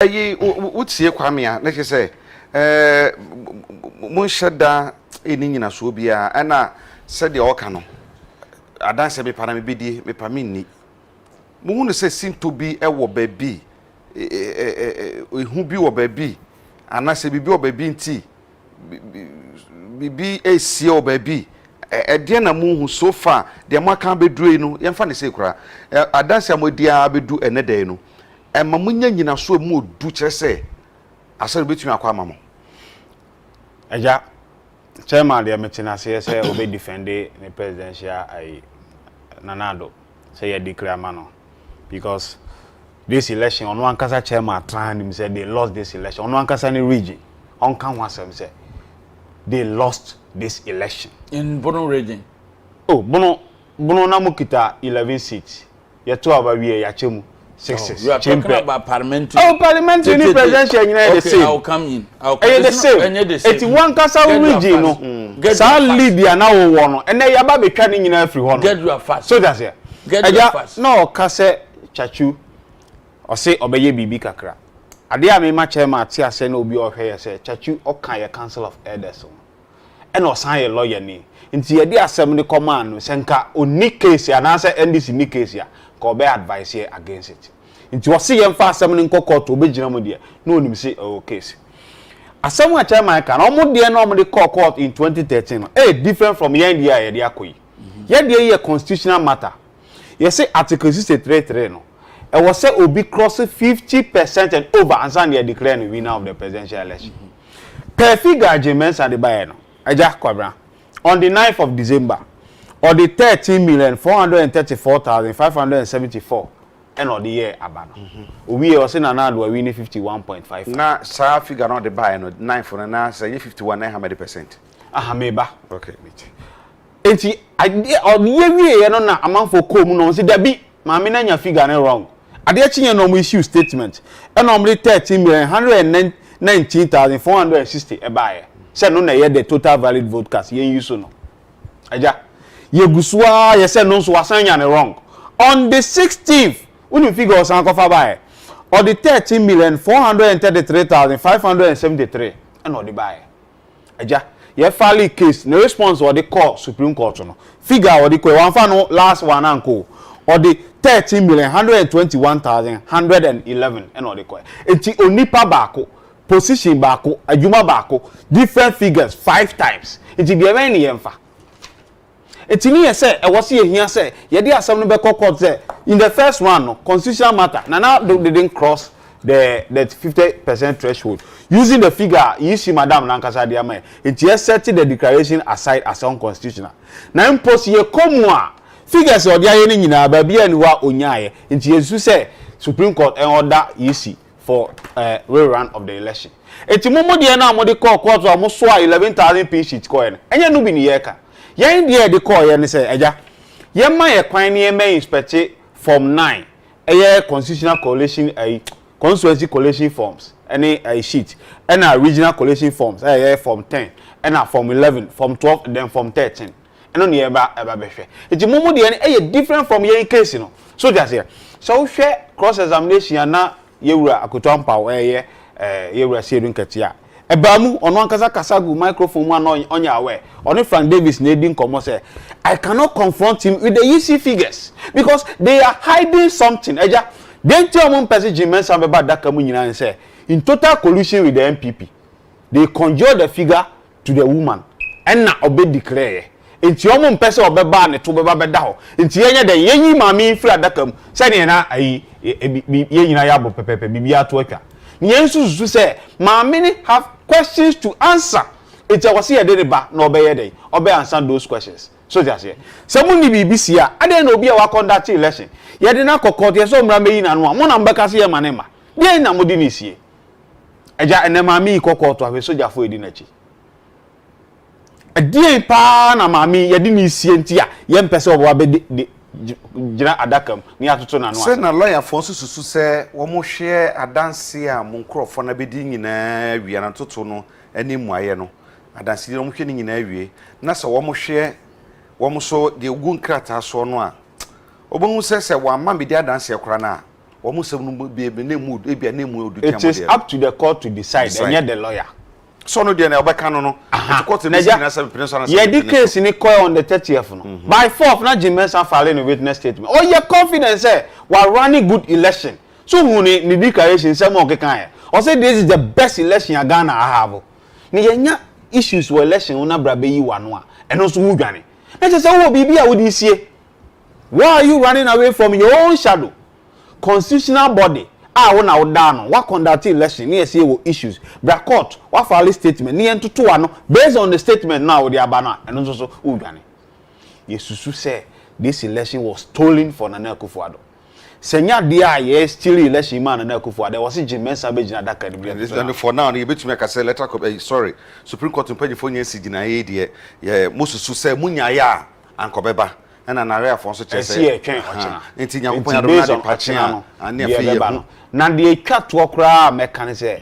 ɛyi wotie kwame a na kyerɛ sɛ monhyɛ da ɛni nyinasoɔ biara ɛna sɛdeɛ ɔka no adanseɛ mepa na mebɛdie mepa menni mohu no sɛ sintɔ bi wɔ baabi ɛhu bi wɔ baabi anaasɛ biribi wɔ baabi nti biribi resie wɔ baabi. Ɛdeɛn na mohu so far? Deɛ moaka abɛduru yi no, yɛmfa no sei koraa. Adanse a moadi ara bɛdu ɛnnɛ da yi no, ɛma monya nnyinasoɔ a ɛmu ɔdu kyerɛ sɛ asɔre no bɛtumi akɔ ama mo. Agya, Chairman deɛ mete no aseɛ sɛ ɔbɛ defende ne presidential ayi, Nana Addo, sɛ yɛadi kra ama no. because this election ɔno ankasa chairman atraa nim sɛ they lost this election ɔno ankasa ne region ɔnka ho asɛm sɛ they lost this election. in bono region. oh bono bono na mo kita eleven seats yɛto aba wie yɛakyɛ mu six six. you are talking about parliamentary. oh parliamentary ne presidential nyinaa yɛ the same. okay i will come in. Ɛyɛ the same. Eti wo ankasa wo region no, saa lead a na wowɔ no, ɛnɛ yɛaba abɛtwa ne nyinaa afiri hɔ no. So te aseɛ? Agya, na ɔka sɛ Kyakyu, ɔse ɔbɛyɛ biribi kakra. Adeɛ a mema Chairman ate aseɛ na obi a ɔhwɛ yɛ sɛ, Kyakyu ɔka yɛ Council of Elders ho. ɛna ɔsan yɛ lɔyani nti yɛde asɛm no kɔmaa no sɛ nka ɔnni case anaasɛ NDC nni case a nka ɔbɛ advice yɛn against it nti ɔse yɛmfa asɛm no nkɔ court ɔbɛgyina mu deɛ na ɔnim se ɛwɔ case. Asɛm a chairman ka no wɔn deɛ na wɔde kɔɔ court in 2013 no ɛyɛ different from yɛn deɛ a yɛde akɔ yi. Yɛn deɛ yi yɛ constitutional matter. Yɛse Article sixty three three no, ɛwɔ sɛ obi krɔse fifty per cent and over ansa na yɛadeclare no winner of the presidential election. Per figure a Jim Mensah de baeɛ no, Agya Kwabena, on the ninth of December, ɔde thirteen million four hundred and thirty four thousand five hundred and seventy four ɛna ɔde yɛɛ aba no. Ɔwieɛ ɔse Nana Addo awini fifty one point five five. Na saa figure no a ɔde baeɛ no, ninth no, na sɛ ɛnyɛ fifty one na ɛha madi per cent? Aha, meba. Okay, mate. Enti adeɛ ɔyɛ wieɛ no na amanfoɔ kɔɔ mu na wɔn se dabi maame no anya figure no wrong. Adeɛ kyeeɛ no na wɔn issue statement ɛna wɔn de thirteen million one hundred and nineteen thousand four hundred and sixty ɛbaeɛ sɛ ɛno na ɛyɛ the total valid vote cast yɛn use no agya yɛgu so ara yɛ sɛ ɛno nso wasan anya no wrong on the sixteenth wonim figure ɔsan kɔfa baeɛ ɔde thirteen million four hundred and thirty three thousand five hundred and seventy three ɛna ɔde baeɛ. Agya, yɛ file case ne response a ɔde kɔɔ supreme court no, figure a ɔde kɔɛ, wamfa no last one ankɔ o, ɔde thirteen million, one hundred and twenty one thousand, one hundred and eleven ɛna ɔde kɔɛ. Nti onipa baako, position baako, adwuma baako, different figures five times. Nti deɛ ɛbɛn ne yɛmfa. Enti ne yɛ sɛ ɛwɔ sɛ yɛhia sɛ yɛde asɛm no bɛkɔ court sɛ in the first one no constitutional matter Nana Addo didn't cross the the fifty percent threshold using the figure a you see madam no ankasa de ama yɛ enti yɛ set the declaration aside as unconstitutional na mpo sɛ yɛkɔ mu a figures a ɔde ayɛ no nyinaa baabiara nni hɔ a ɔnyaeɛ enti yɛsusu sɛ supreme court ɛnɔda you see for eh re run of the election eti mo mo deɛ no a mo de kɔɔ court a mo soaa eleven thousand pin sheet kɔɔɛ no ɛnyɛ ɛno bi ne yɛɛka yɛn deɛ a yɛde kɔɔyɛ ne sɛ agya yɛn ma yɛ kwan ne yɛn mɛ inspect form nine ɛyɛ constitutional coalition ɛyi constituency coalition forms ɛne ɛyi sheet ɛna regional coalition forms ɛyɛ form ten ɛna form eleven form twelve then form thirteen ɛno na yɛba ɛba bɛhwɛ nti mo mo deɛ no ɛyɛ different from yɛn case no so te aseɛ sɛ wohwɛ cross examination a na yɛwura akoto ampaw ɛyɛ eh, ɛɛ eh, yɛwura siedu nkɛte a ɛbaa mu ɔno ankasa kasa gu microphone mu a na ɔnyɛ aware ɔne frank davis na edi nkɔmɔ sɛ i cannot confront him with the yisi figures because they are hiding something ɛgya deɛ nti a wɔn mpɛ sɛ jim mensa bɛba adaka mu nyinaa ne sɛ in total collusion with the npp they conjure the figure to the woman ɛna ɔbɛ declare yɛ nti ɔmo mpɛ sɛ ɔbɛ ba a ne to bɛba bɛda hɔ nti yɛ nyɛ dɛn yɛ yi maame yi firi adaka mu sɛdeɛ na ayi bi yɛ nyina yɛ abɔ pɛpɛpɛ biribiara to atwa na yɛn nso susu sɛ maame no have questions to answer nti ɛwɔ sɛ yɛde ne ba na ɔbɛ yɛ dɛn ɔbɛ answer those questions so te aseɛ sɛ mo ne biribi si a adɛn na obi a wa conduct election yɛde no akɔ court yɛ sɛ ɔmmra mɛyi n'ano a mo na mo bɛka sɛ yɛ ma ne mma deɛn na mo de no sie Agya, ɛnnɛ maame yi kɔ kɔɔto ahwɛ sogyafo a edi n'akyi. Ɛdeɛn paa na maame yi yɛde no resie nti a yɛmpɛ sɛ ɔba bɛgyina adaka mu na yɛatoto n'ano ase? Sei na lɔyafoɔ nso susu sɛ wɔhwɛ adanseɛ a mo nkurɔfoɔ no abɛdi nyinaa awie anaa ntoto no ne mmuaeɛ no, adansedie no wɔhwɛ ne nyinaa awie na sɛ wɔhwɛ wɔn nso deɛ ɛgu nkrataa soɔ no a, wɔbɛhu sɛ sɛ wɔamma mmɛdi adanseɛ koraa no a, wɔn nsɛm no mu bi ebi na emu ebi a na emu odu tia mo deɛ. it is up to the court to decide ɛnyɛ the lawyer. sọ no deɛ na ɔbɛka no no nti court ebi si nyina sɛ mpene so anasɛ yɛde case ni kɔɛ on the thirtieth no mhm. by fourth na Jim Mensah file no witness statement ɔyɛ confident sɛ wa running good election so hu ni ni declaration sɛ mo ɔkeka yɛ ɔsɛ this is the best election a Ghana ahavo na yɛnya issues wɔ election ho na bra bɛyi wa no a ɛno nso ho dwane na kyɛ sɛ wowɔ biribi a wode sie Why are you running away from your own shadow, constitutional body a wo na wo da ano, wa conduct election ne yɛse yɛwɔ issues, bra court, wa file statement ne yɛntoto ano based on the statement no a wode aba no a ɛno nso so wo dwane. Yɛsusu sɛ this election was stolen for Nana Akufo Addo. Sɛ ɛnyɛ adeɛ a yɛ steal election yi maa Nana Akufo Addo a ɛwɔ se Jim Mensah bɛgyina adaka anim de atoto n'ano. For now no yɛbɛtumi aka sɛ electoral, sorry, Supreme Court mpanyinfoɔ nyɛ nsi gyinaeɛ yi deɛ yɛ mosusu sɛ mo nyaeɛ a, anka ɔbɛba ɛna naraeafoɔ nso kyerɛ sɛ ɛsi ɛtwɛn ɔkyena nti nyankopɔn yadom na adepa kyena no ane afei yɛ hu na deɛ ɛtwa toɔ koraa a mɛka ne sɛ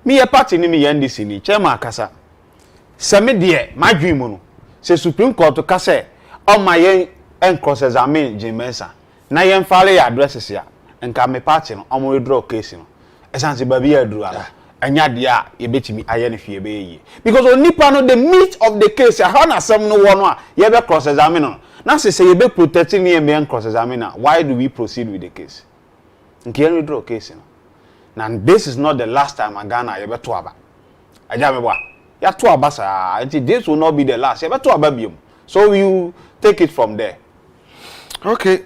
meyɛ party ne meyɛ ndc ni chairman akasa sɛ me deɛ madwen mu no sɛ supreme court ka sɛ ɔma yɛn cross examine Jane Mensah Na yɛn file yɛ addresses a nka mmepa ate no ɔmo re draw case no. Ɛsan se baabi a aduru ara ɛnyɛ adeɛ a yɛbɛtumi ayɛ no hwee ɛbɛyɛ yie. Because onipa no the meat of the case ɛhɔ na asɛm no wɔ no a yɛbɛ cross examine no. Na se sɛ yɛbɛ protect no yɛmma yɛn cross examine no a why do we proceed with the case? Nka yɛn re draw case no. Na this is not the last time a Ghana a yɛbɛto aba. Agya me boa. Yɛato aba saa nti this will not be the last yɛbɛto aba biom so you take it from there. Okay.